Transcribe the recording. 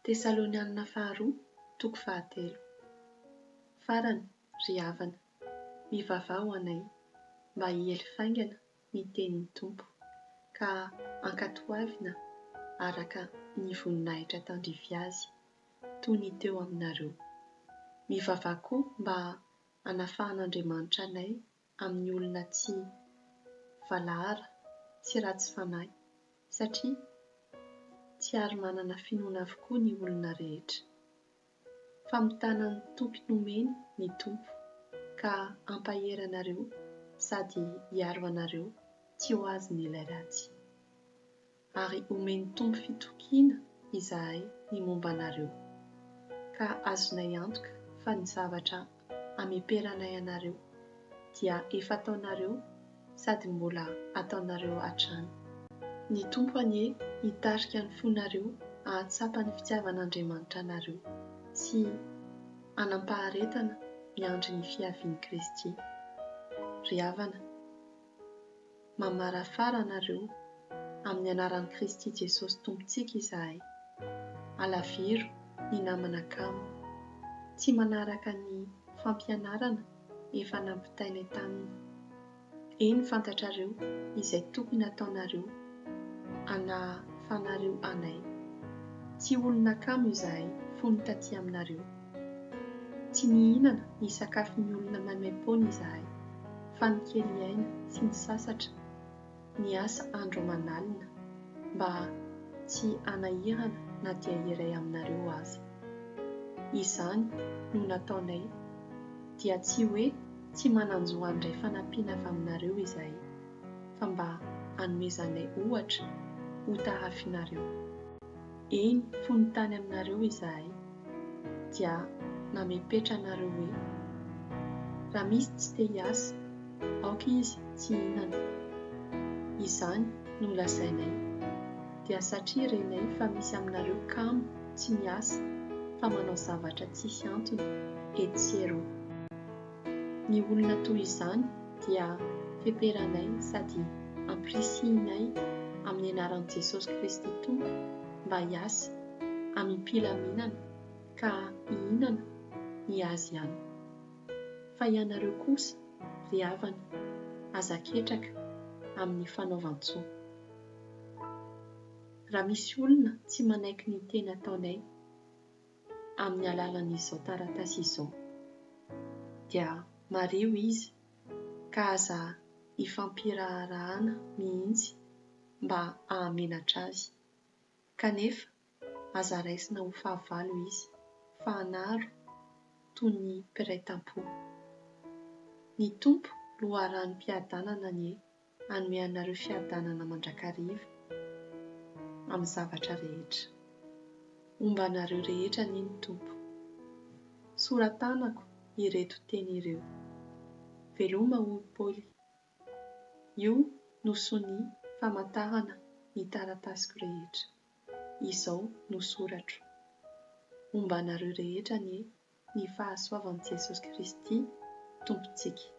Tesalonianina Faharoa toko fahatelo. Farany, ry havana, mivavaha ho anay, mba hiely faingana ny tenin'ny Tompo, ka ankatoavina araka ny voninahitra tandrify azy, toy ny teo aminareo. Mivavaha koa mba hanafahan'Andriamanitra anay amin'ny olona tsy valahara, tsy ratsy fanahy, satria tsy ary manana finoana avokoa ny olona rehetra. Famitana ny toky nomeny ny Tompo, ka hampahery anareo sady hiaro anareo tsy ho azon'ilay ratsy. ary homen'ny Tompo fitokiana izahay ny momba anareo, ka azonay antoka fa ny zavatra ameperanay anareo dia efa ataonareo sady mbola ataonareo hatrany. Ny Tompo anie hitarika ny fonareo hahatsapa ny fitiavan'Andriamanitra anareo sy hanam-paharetana miandry ny fiavian'i Kristy. Ry havana. Mamarafara anareo amin'ny anaran'i Kristy Jesosy Tompontsika izahay. Alaviro ny namana kamo. Tsy manaraka ny fampianarana efa nampitainay taminy. Eny fantatrareo izay tokony hataonareo anahafanareo anay. Tsy olona kamo izahay fony taty aminareo. Tsy nihinana ny sakafon'ny olona maimaim-poana izahay, fa nikely ny aina sy nisasatra, niasa andro aman'alina, mba tsy hanahirana na dia iray aminareo aza. Izany no nataonay, dia tsy hoe tsy manan-jo handray fanampiana avy aminareo izahay, fa mba hanomezanay ohatra hotahafinareo. Eny, fony tany aminareo izahay, dia namepetra anareo hoe, Raha misy tsy te hiasa, aoka izy tsy hihinana. Izany no lazainay, dia satria renay fa misy aminareo kamo tsy miasa fa manao zavatra tsisy antony etsy sy eroa. Ny olona toy izany dia feperanay sady ampirisihinay amin'ny anaran'i Jesosy Kristy Tompo mba hiasa amim-pilaminana ka hihinana ny azy ihany. Fa ianareo kosa, ry havana, aza ketraka amin'ny fanaovan-tsoa. Raha misy olona tsy manaiky ny teny ataonay, amin'ny alalan'izao taratasy izao, dia mariho izy ka aza ifampiraharahana mihitsy mba hahamenatra azy, kanefa aza raisina ho fahavalo izy fa hanaro toy ny mpiray tam-po. Ny Tompo loharanom-piadanana anie. Hanome anareo fiadanana mandrakariva amin'ny zavatra rehetra. Homba anareo rehetra anie ny Tompo. Sora-tanako ireto teny ireo. Veloma hoy Paoly. Io no sonia famantarana ny taratasiko rehetra. Izao no soratro. Homba anareo rehetra anie ny fahasoavan'i Jesosy Kristy Tompontsika.